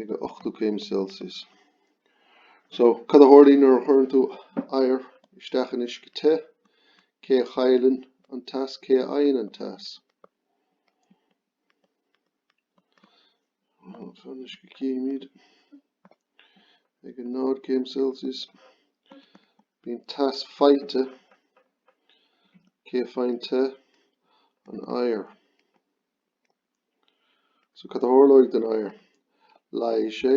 ag 80 céim Celsius. So, cad a tharlaíonn nuair a chuireann tú oighear isteach in uisce te? Cé a chailleann an teas? Cé a fhaigheann an teas? An uisce címid ag 0 céim Celsius. Bíonn teas faighte cé a fhaigheann teas, an oighear. So cad a tharlóidh don oighear? Leáigh sé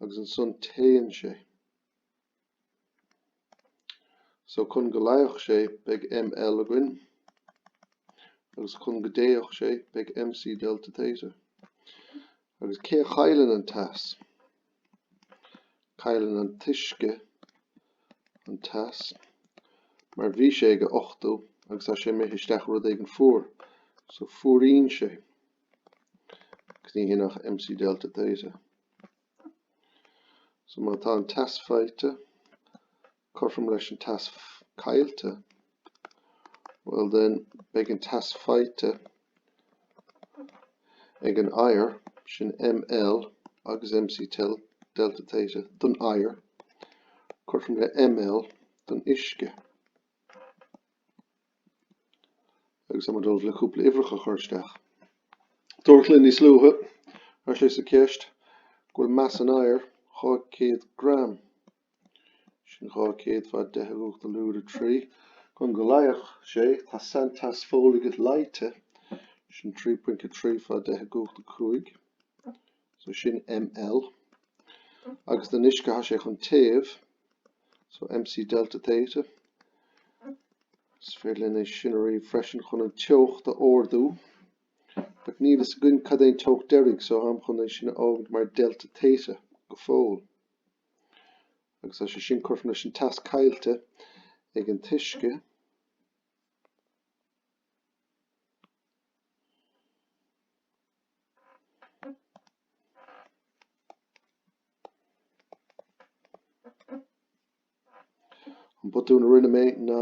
agus ansan téann sé. So chun go leáfadh sé beidh ml againn agus chun go dtéadh sé beidh mc delta theta. Agus cé a chailleann an teas? Cailleann an t-uisce an teas mar bhí sé ag a 80 agus tá sé imithe isteach i rud éigin fuar, so fuaraíonn sé agus níl sin ach MC Delta Theta. So má tá an teas faighte, cothrom leis an teas caillte, well then beidh an teas faighte ag an oighear, sin ml agus mcl, delta theta don oighear, cothrom le ml don uisce. agus táim ag dul le cúpla uimhreacha a chur isteach. Dúradh linn níos luaithe deir sé sa ceist go bhfuil mais an oighir 200 gram Sin 200 fá 10 i gcumhacht a lúide 3. Chun go leáfadh sé, tá sainteas folaigh leáite, sin 3.3 fá 10 i gcumhacht a cúig, so sin ml, agus don uisce tá sé chun téamh, so mc delta theta. Is féidir linn é sin a ríomh freisin chun an teocht a ardú, but níl fhios againn cad é an teocht deiridh, so táim chun é sin a fhágaint mar delta theta go fóill. agus tá sé sin cothrom leis an teas caillte ag an t-uisce. An botún a rinne mé ná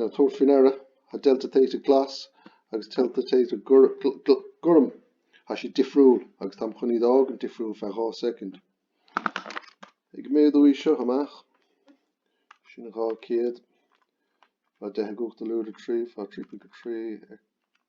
ná tabhairt faoi ndeara Tá Delta Theta Glas agus Delta Theta Gorm Tá sé difriúil agus táim chun iad a fhágaint difriúil feadh 2 second. Ag méadú é seo amach. Sin 200. Fá 10 i gcumhacht a lúide 3 fá 3.3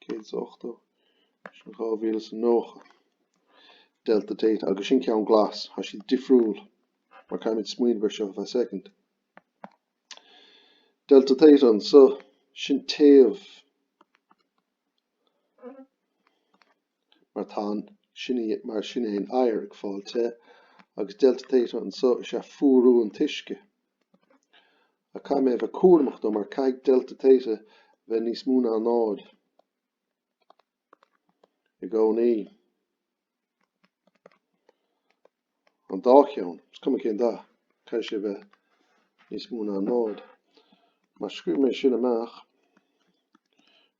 céad is a ochtó, sin dhá mhíle is a nócha, delta Theta, agus sin ceann glas, tá siad difriúil, mar caithfimid smaoineamh ar seo feadh second. Delta Theta anseo, sin téamh, mar tá an, mar sin é an oighear ag fáil te, agus delta Theta anseo is ea fuarú an t-uisce. Ach caithfidh mé a bheith cúramach though, mar caithfidh Delta Theta bheith níos mó ná 0 i gcónaí. An dá cheann, is cuma cén dath, caithfidh sé bheith níos mó ná 0. Mar scríobh mé sin amach,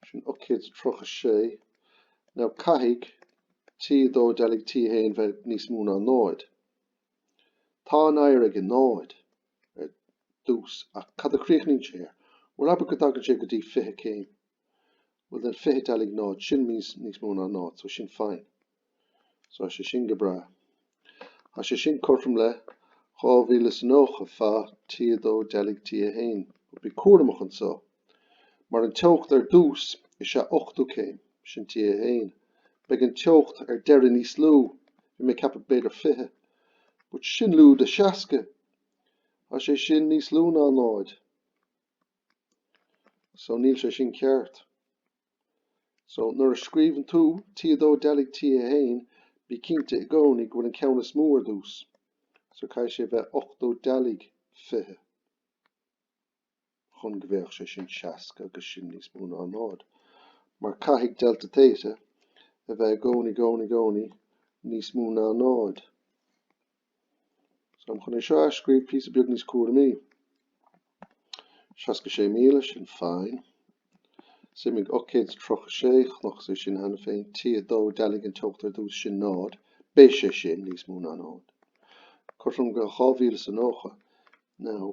sin 836, now caithfidh T2 dealaigh T1 bheith níos mó ná 0. Tá an oighear ag náid ar dtús ach cad a chríochnaíonn sé air? Bhuel, abair go dtagann sé go dtí fiche céim. Bhuel, then fiche dealaigh náid, sin níos, níos mó ná náid, so sin fine. So tá sé sin go breá. Tá sé sin cothrom le 2090 faoi T2 dealaigh T1. Ach bí cúramach anseo. Mar an teocht ar dtús is ea ochtó céim, sin T1. Beidh an teocht ar deireadh níos lú, bhí mé ag ceapadh b'fhéidir 20, but sin lúide 60, tá sé sin níos lú ná 0. So níl sé sin ceart. So nuair a scríobhann tú T2 dealaigh T1, bí cinnte i gcónaí go bhfuil an ceann is mó ar dtús. So caithfidh sé bheith ochtó dealaigh 20. chun go mbeadh sé sin 60 agus sin níos mó ná 0, mar caithfidh delta theta a bheith i gcónaí, gcónaí, gcónaí níos mó ná 0. So táim chun é seo a athscríobh píosa beag níos cúramaí. 66,000, sin fine. Suimigh 836, chonaic sé sin cheana féin, T2, dealaigh an teocht ar dtús, sin 0, beidh sé sin níos mó ná 0. Cothrom go 2090, now,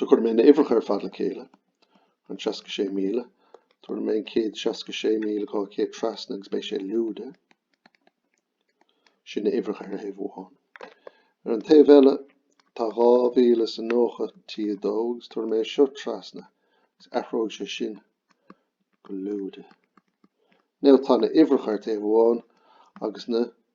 So cuirfidh mé na uimhreacha ar fad le chéile, an 66,000, tabharfaidh mé an 166,200 trasna agus beidh sé lúide. Sin na uimhreacha ar thaobh amháin. Ar an taobh eile, tá 2,090 T2 agus tabharfaidh mé seo trasna agus athróidh sé sin go lúide. Now tá na uimhreacha ar taobh amháin agus na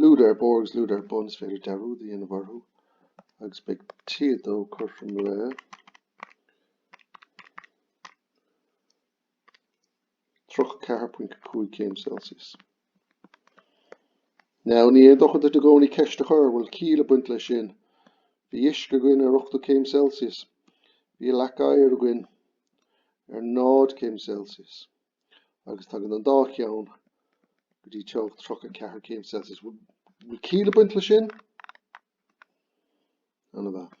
Lúide ar barr agus lúide ar bun, is féidir dearúd a dhéanamh orthu agus beidh T2 cothrom le tríocha ceathair ponc cúig céim Celsius. Now, ní haon dochar duit i gcónaí ceist a chur, bhfuil ciall ag baint leis sin? Bhí uisce againn ar ochtó céim Celsius, bhí leac oighir againn ar náid céim Celsius. agus tagann an dá cheann go dtí teocht 34 céim Celsius. Bhfuil ciall á baint le sin? Ana-mhaith.